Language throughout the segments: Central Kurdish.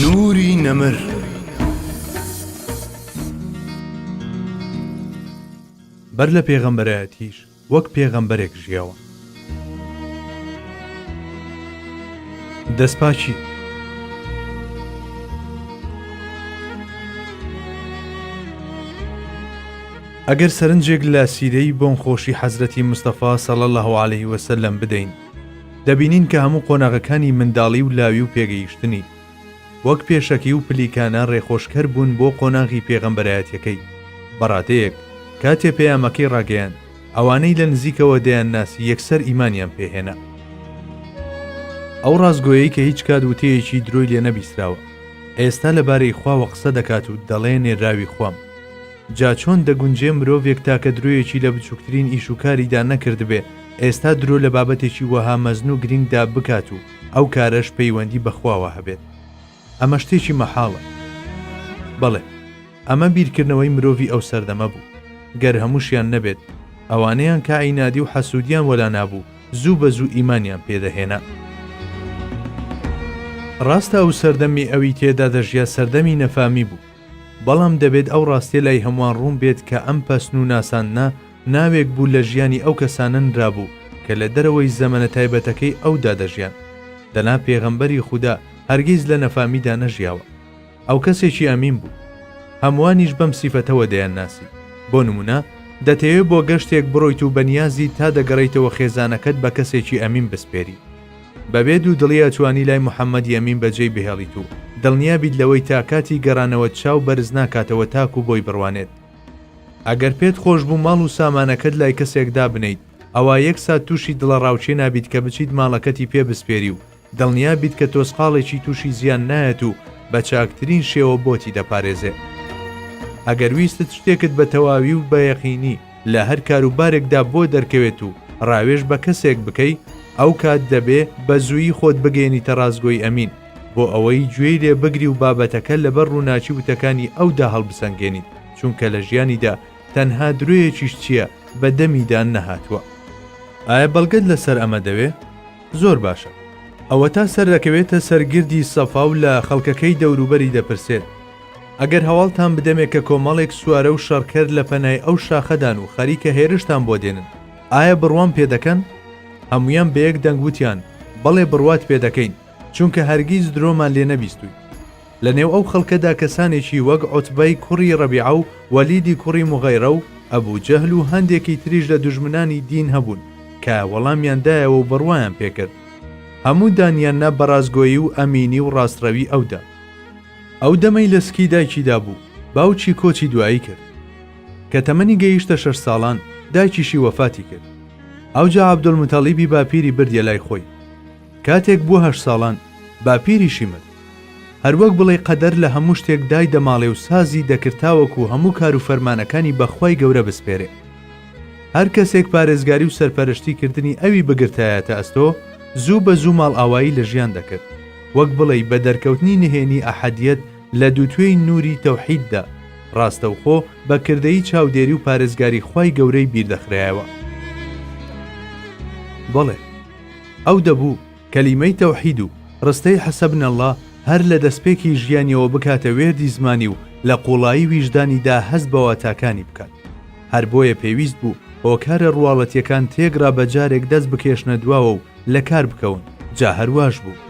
نوری نەمر بەر لە پێغەمبەرایەتیش وەک پێغەمبەرێک ژیاوە. دەستپاکی ئەگەر سەرنجێک لە سیرەی بۆنخۆشی حەزرەتی مستەفا سەڵ لە هەواالەی وەسە لەم بدەین دەبینین کە هەموو قۆناغەکانی منداڵی و لاوی و پێگەیشتنی وەک پێشەکی و پلیکانە ڕێخۆشکەر بوون بۆ قۆناغی پێغەمبەرایەتیەکەی بەڕادەیەک کاتێ پەیامەکەی ڕاگەیان ئەوانەی لە نزیکەوە دەیان ناسی یەکسەر ئیمانیان پێهێنا ئەو ڕاستگۆیەی کە هیچ کات وتەیەکی درۆی لێ نەبیسراوە ئێستا لەبارەی خواوە قسە دەکات و دەڵێ نێراوی خوام جا چۆن دەگونجێ مرۆڤێک تاکە درۆیەکی لە بچووکترین ئیش و کاریدا نەکردبێ، ئێستا درۆ لە بابەتێکی وەها مەزن و گرینگدا بکات و ئەو کارەش پەیوەندی بە خواوە هەبێت؟ ئەمە شتێکی مەحاڵە. بەڵێ، ئەمە بیرکردنەوەی مرۆڤی ئەو سەردەمە بوو. گەر هەمووشیان نەبێت، ئەوانەیان کە عینادی و حەسوودیان وەلا نابوو، زوو بە زوو ئیمانیان پێ دەهێنا. ڕاستە ئەو سەردەمی ئەوی تێدا دەژیا سەردەمی نەفامی بوو، بەڵام دەبێت ئەو ڕاستیە لای هەموان ڕوون بێت کە ئەم پەسن و ناساندنە ناوێک بوو لە ژیانی ئەو کەسانە نرابوو کە لە دەرەوەی زەمەنە تایبەتەکەی ئەودا دەژیان دەنا پێغەمبەری خودا هەرگیز لە نەفامیدا نەژیاوە ئەو کەسێکی ئەمین بوو هەموانیش بەم سیفەتەوە دەیان ناسی بۆ نمونە دەتەوێ بۆ گەشتێک بڕۆیت و بەنیازی تا دەگەڕێیتەوە خێزانەکەت بە کەسێکی ئەمین بسپێری بەبێ دوو دڵی ئەتوانی لای محەمەد یەمین بەجێی بهێڵیت و دڵنیا بیت لەوەی تا کاتی گەڕانەوەت چاو بەرز ناکاتەوە تاکو بۆی بڕوانێت. ئەگەر پێت خۆش بوو ماڵ و سامانەکەت لای کەسێک دابنێیت ئەوا یەک سات تووشی دڵەڕاوکێ نابیت کە بچیت ماڵەکەتی پێ بسپێری و دڵنیا بیت کە تۆزقاڵێکی تووشی زیان نایەت و بە چاکترین شێوە بۆتی دەپارێزێ. ئەگەر ویستت شتێکت بە تەواوی و بە یەقینی، لە هەر کاروبارێکدا بۆ دەرکەوێت و ڕاوێژ بە کەسێک بکەی ئەو کات دەبێ بە زوویی خۆت بگەیەنیتە ڕاستگۆی ئەمین بۆ ئەوەی گوێی لێ بگری و بابەتەکە لەبەر ڕووناکی وتەکانی ئەودا هەڵبسەنگێنیت چونکە لە ژیانیدا تەنها درۆیەکیش چییە بە دەمیدا نەهاتووە. ئایا بەڵگەت لەسەر ئەمە دەوێ؟ زۆر باشە. ئەوەتا سەردەکەوێتە سەر گردی سەفا و لە خەڵکەکەی دەوروبەری دەپرسێت، ئەگەر هەواڵتان بدەمێ کە کۆمەڵێک سوارە و شەڕکەر لە پەنای ئەو شاخەدان و خەریکە هێرشتان بۆ دێنن، ئایا بڕوام پێ دەکەن؟ هەموویان بە یەک دەنگ وتیان، بەڵێ بڕوات پێ دەکەین، چونکە هەرگیز درۆمان لێ نەبیستوویت. لە نێو ئەو خەڵکەدا کەسانێکی وەک عوتبەی کوڕی ڕەبیعە و وەلیدی کوڕی موغیرە و ئەبو جەهل و هەندێکی تریش لە دوژمنانی دین هەبوون کە وەڵامیان دایەوە و بڕوایان پێ کرد. هەموو دانیان نا بە ڕاستگۆیی و ئەمینی و ڕاستڕەوی ئەودا. ئەو دەمەی لە سکی دایکیدا بوو، باوکی کۆچی دوایی کرد. کە تەمەنی گەیشتە شەش ساڵان، دایکیشی وەفاتی کرد. ئەوجا عەبدولموتەڵیبی باپیری بردیە لای خۆی. کاتێک بووە هەشت ساڵان، باپیریشی مرد. هەر وەک بڵێی قەدەر لە هەموو شتێک دای دەماڵێ و سازی دەکرد تاوەکو هەموو کار و فەرمانەکانی بە خوای گەورە بسپێرێ. هەر کەسێک پارێزگاری و سەرپەرشتی کردنی ئەوی بگرتایەتە ئەستۆ، زوو بە زوو ماڵئاوایی لە ژیان دەکرد. وەک بڵێی بە دەرکەوتنی نهێنی ئەحەدیەت لە دووتوێی نووری تەوحیددا، ڕاستەوخۆ بە کردەیی چاودێری و پارێزگاری خوای گەورەی بیردەخرایەوە. بەڵێ، ئەو دەبوو کەلیمەی تەوحید و ڕستەی حسبنا اللە هەر لە دەستپێکی ژیانیەوە بکاتە وێردی زمانی و لە قووڵایی ویژدانیدا هەست بە واتاکانی بکات. هەر بۆیە پێویست بوو هۆکارە ڕواڵەتیەکان تێکڕا بە جارێک دەست بکێشنە دواوە و لەکار بکەون جا هەر واش بوو.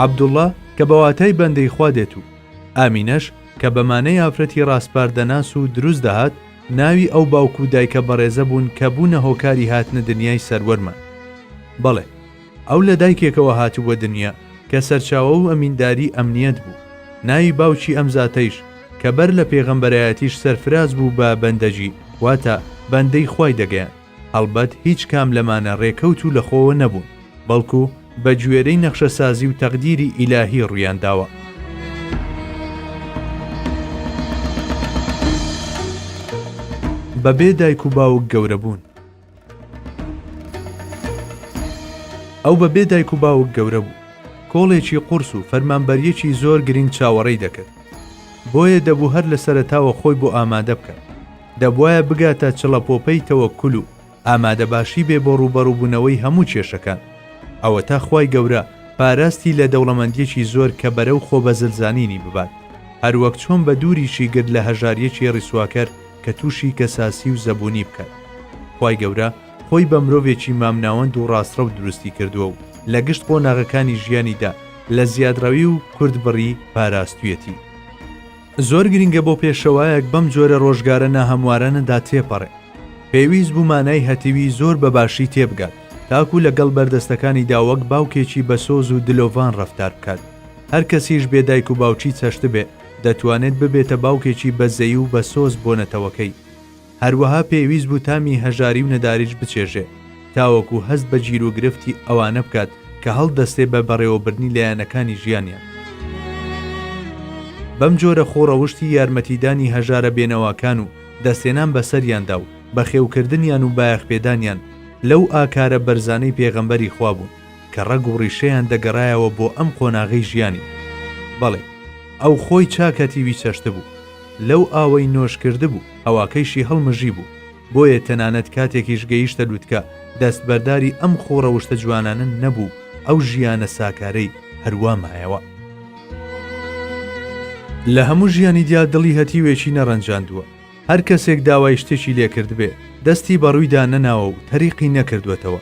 عەبدوڵڵا کە بە واتای بەندەی خوا دێت و ئامینەش کە بە مانای ئافرەتی ڕاسپاردەناس و دروست دەهات، ناوی ئەو باوک و دایکە بەڕێزە بوون کە بوونە هۆکاری هاتنە دنیای سەروەرمان. بەڵێ ئەو لە دایکێکەوە هاتبووە دنیا کە سەرچاوە و ئەمینداری ئەمنیەت بوو، ناوی باوکی ئەم زاتەیش کە بەر لە پێغەمبەرایەتیش سەرفراز بوو بە بەندەگی واتە بەندەی خوای دەگەیاند. هەڵبەت هیچ کام لەمانە رێکەوت و لەخۆوە نەبوون، بەڵکو بەگوێرەی نەخشەسازی و تەقدیری ئیلاهی روویان داوە. بەبێ دایک و باوک گەورەبوون. ئەو بەبێ دایک و باوک گەورە بوو. کۆڵێکی قورس و فەرمانبەریەکی زۆر گرنگ چاوەڕێی دەکرد. بۆیە دەبوو هەر لەسەرەتاوە خۆی بۆ ئامادە بکات. دەبوایە بگاتە چڵەپۆپەی تەوەکول و ئامادەباشی بێ بۆ ڕووبەڕووبوونەوەی هەموو کێشەکان. ئەوەتا خوای گەورە پاراستی لە دەوڵەمەندیەکی زۆر کە بەرەو خۆبەزلزانینی ببات، هەروەک چۆن بە دووریشی گرت لە هەژاریەکی ڕیسواکەر کە تووشی کەساسی و زەبوونی بکات. خوای گەورە خۆی بە مرۆڤێکی مامناوەند و ڕاستڕەو دروستی کردووە و لە گشت قۆناغەکانی ژیانیدا لە زیادڕەوی و کورتبڕی پاراستویەتی. زۆر گرنگە بۆ پێشەوایەک بەم جۆرە ڕۆژگارە ناهەموارانەدا تێپەڕێ پێویست بوو مانای هەتیوی زۆر بە باشی تێبگات تاکو لەگەڵ بەردەستەکانیدا وەک باوکێکی بە سۆز و دلۆڤان ڕەفتار بکات هەر کەسیش بێ دایک و باوکی چەشتبێ دەتوانێت ببێتە باوکێکی بەزەی و بە سۆز بۆ نەتەوەکەی هەروەها پێویست بوو تامی هەژاری و نەداریش بچێژێ تاوەکو هەست بە گیروگرفتی ئەوانە بکات کە هەڵدەستێ بە بەڕێوەبردنی لایەنەکانی ژیانیان. بەم جۆرە خۆ ڕەوشتی یارمەتیدانی هەژارە بێنەواکان و دەستێنان بە سەریاندا و بەخێوکردنیان و بایەخپێدانیان لەو ئاکارە بەرزانەی پێغەمبەری خوا بوون. کە ڕەگ و ڕیشەیان دەگەڕایەوە بۆ ئەم قۆناغەی ژیانی. بەڵێ، ئەو خۆی چاک هەتیوی چەشتبوو، لەو ئاوەی نۆش کردبوو، هەواکەیشی هەڵمژیبوو، بۆیە تەنانەت کاتێکیش گەیشتە لوتکە، دەستبەرداری ئەم خوو ڕەوشتە جوانانە نەبوو، ئەو ژیانە ساکارەی هەروا مایەوە. لە هەموو ژیانی دیا دڵی هەتیوێکی نەڕەنجاندووە، هەر کەسێک داوای شتێکی لێ کردبێ، دەستی بە ڕوویدا نەناوە و تەریقی نەکردووەتەوە.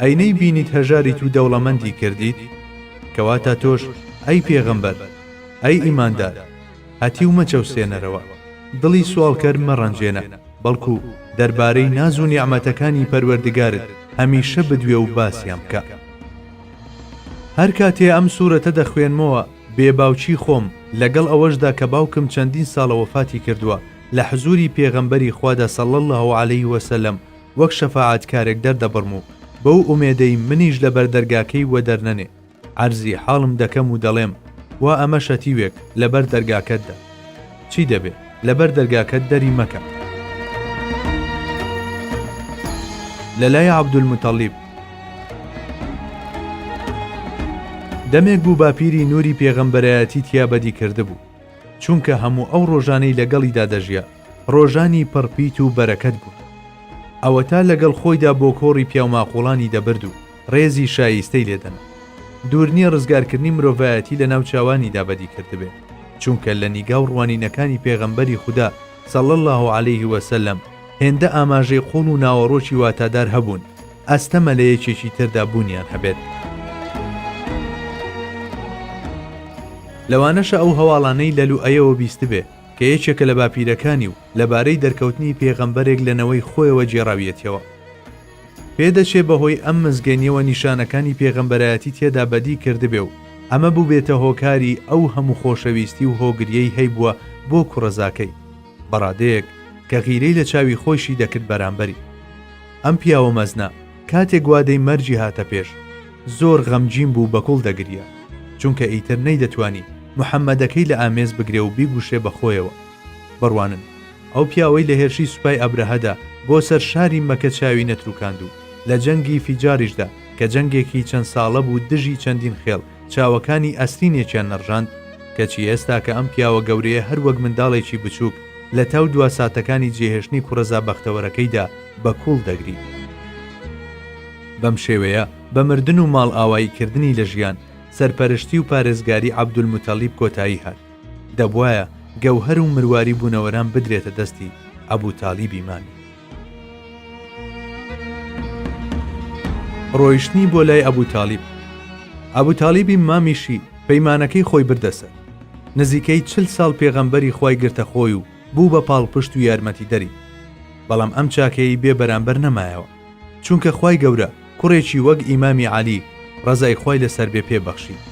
ئەی نەیبینیت هەژاریت و دەوڵەمەندی کردیت؟ کەواتە تۆش ئەی پێغەمبەر، ئەی ئیماندار، هەتیو مەچەوسێنەرەوە، دڵی سواڵکەر مەڕەنجێنە، بەڵکو دەربارەی ناز و نیعمەتەکانی پەروەردگارت هەمیشە بدوێ و باسیان بکە. هەر کاتێ ئەم سورەتە دەخوێنمەوە بێ باوکی خۆم، لەگەڵ ئەوەشدا کە باوکم چەندین ساڵە وەفاتی کردووە، لە حزوری پێغەمبەری خوادا صلی اللە علیە وسلم، وەک شەفاعەتکارێک دەردەبڕم و بەو ئومێدەی منیش لە بەر دەرگاکەی وەدەرنەنێ، عەرزی حاڵم دەکەم و دەڵێم، وا ئەمە شەتیوێک لە بەر دەرگاکەتدا. چی دەبێ؟ لە بەر دەرگاکەت دەری مەکە. لە لای عەبدولموتەڵیب. دەمێک بوو باپیری نووری پێغەمبەرایەتی تیا بەدی کردبوو، چونکە هەموو ئەو ڕۆژانەی لەگەڵیدا دەژیا، ڕۆژانی پڕ پیت و بەرەکەت بوون. ئەوەتا لەگەڵ خۆیدا بۆ کۆڕی پیاوماقووڵانی دەبرد و ڕێزی شاییستەی لێ دەنا. دوور نییە ڕزگارکردنی مرۆڤایەتی لە ناو چاوانیدا بەدی کردبێ، چونکە لە نیگا و ڕوانینەکانی پێغەمبەری خودا صلی اللە علیه و سلم هێندە ئاماژەی قووڵ و ناوەڕۆکی واتادار هەبوون، ئەستەمە لە یەکێکی تردا بوونیان هەبێت. لەوانەشە ئەو هەواڵانەی لە لوئەیەوە بیستبێ، کە یەکێکە لە باپیرەکانی و لەبارەی دەرکەوتنی پێغەمبەرێک لە نەوەی خۆیەوە گێڕاویەتیەوە. پێدەچێ بەهۆی ئەم مزگێنیەوە نیشانەکانی پێغەمبەرایەتی تێدا بەدی کردبێ و ئەمە بوبێتە هۆکاری ئەو هەموو خۆشەویستی و هۆگریەی هەیبووە بۆ کوڕەزاکەی، بەڕادەیەک کە غیرەی لە چاوی خۆیشی دەکرد بەرامبەری. ئەم پیاوە مەزنە، کاتێک وادەی مەرگی هاتە پێش زۆر غەمگین بوو بە گوڵ دەگریا چونکە ئیتر نەیدەتوانی محەمەدەکەی لە ئامێز بگرێ و بیگوشێ بە خۆیەوە بڕوانن ئەو پیاوەی لە هێرشی سوپای ئەبرەهەدا بۆ سەر شاری مەکە چاوی نەتروکاند و لە جەنگی فیجاریشدا کە جەنگێکی چەند ساڵە بوو دژی چەندین خێڵ چاوەکانی ئەسرینێکیان نەڕژاند، کەچی ئێستا کە ئەم پیاوە گەورەیە هەر وەک منداڵێکی بچووک لە تاو دوا ساتەکانی جێهێشتنی کوڕەزا بەختەوەرەکەیدا بە کوڵ دەگری. بەم شێوەیە بە مردن و ماڵئاوایی کردنی لە ژیان، سەرپەرشتی و پارێزگاری عەبدولموتەڵیب کۆتایی هات. دەبوایە گەوهەر و مرواری بوونەوەران بدرێتە دەستی عەبوتاڵیبی مامی. ڕۆیشتنی بۆ لای ئەبوو تالیب ئەبوو تالیبی مامیشی پەیمانەکەی خۆی بردەسەر نزیکەی چل ساڵ پێغەمبەری خی گرتە خۆی و بوو بە پاڵپشت و یارمەتی دەری بەڵام ئەم چاکەی بێ بەرامبەر نەمایەوە چونکە خی گەورە کوڕێکی وەک ئیمامی عالی ڕزای خی لەسەر بێ پێبەخشی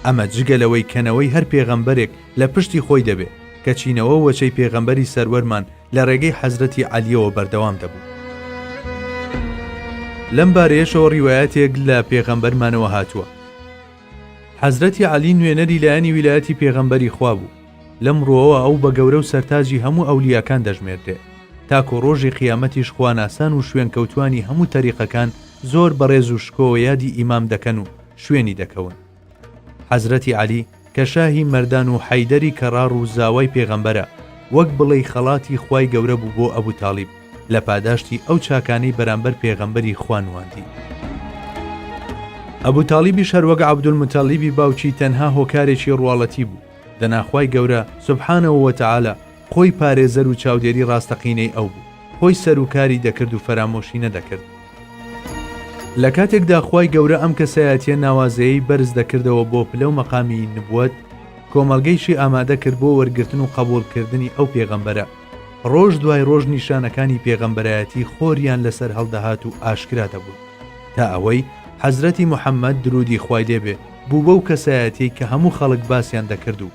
ئەمە جگە لەوەی کەنەوەی هەر پێغەمبەرێک لە پشتی خۆی دەبێ کە چینەوە وەچەی پێغەمبەری سەروەرمان لە ڕێگەی حەزرەتی عەلیەوە بەردەوام دەبوو. لەم بارەیەشەوە ڕیواەتێک لە پێغەمبەرمانەوە هاتووە حەزرەتی علی نوێنەری لایەنی ویلایەتی پێغەمبەری خوا بوو لەم ڕۆەوە ئەو بە گەورە و سەرتاجی هەموو ئەولیاکان دەژمێردێ تاکۆ ڕۆژی قیامەتیش خواناسان و شوێن کەوتانی هەموو تەریقەکان زۆر بەڕێز و شکۆوە یادی ئیمام دەکەن و شوێنی دەکەون حەزرەتی عەلی کە شاهی مەردان و حەیدەری کەڕاڕ و زاوای پێغەمبەرە، وەک بڵێی خەڵاتی خوای گەورە بوو بۆ ئەبوو تاڵیب لە پاداشتی ئەو چاکانەی بەرامبەر پێغەمبەری خوا نواندی. ئەبوو تاڵیبیش هەر وەک عەبدولموتەڵیبی باوکی تەنها هۆکارێکی ڕواڵەتی بوو، دەنا خوای گەورە، سبحانە وتعالی، خۆی پارێزەر و چاودێری ڕاستەقینەی ئەو بوو، خۆی سەر و کاری دەکرد و فەرامۆشی نەدەکرد. لە کاتێکدا خوای گەورە ئەم کەسایەتیە ناوازەیەی بەرز دەکردەوە بۆ پلە و مەقامی نبوەت، کۆمەڵگەیشی ئامادە کرد بۆ وەرگرتن و قەبوڵ کردنی ئەو پێغەمبەرە، ڕۆژ دوای ڕۆژ نیشانەکانی پێغەمبەرایەتی خۆریان لەسەر هەڵدەهات و ئاشکرا دەبوون، تا ئەوەی حەزرەتی محمد، درودی خوای لێ بێ، بوو بەو کەسایەتیەی کە هەموو خەڵک باسیان دەکرد و.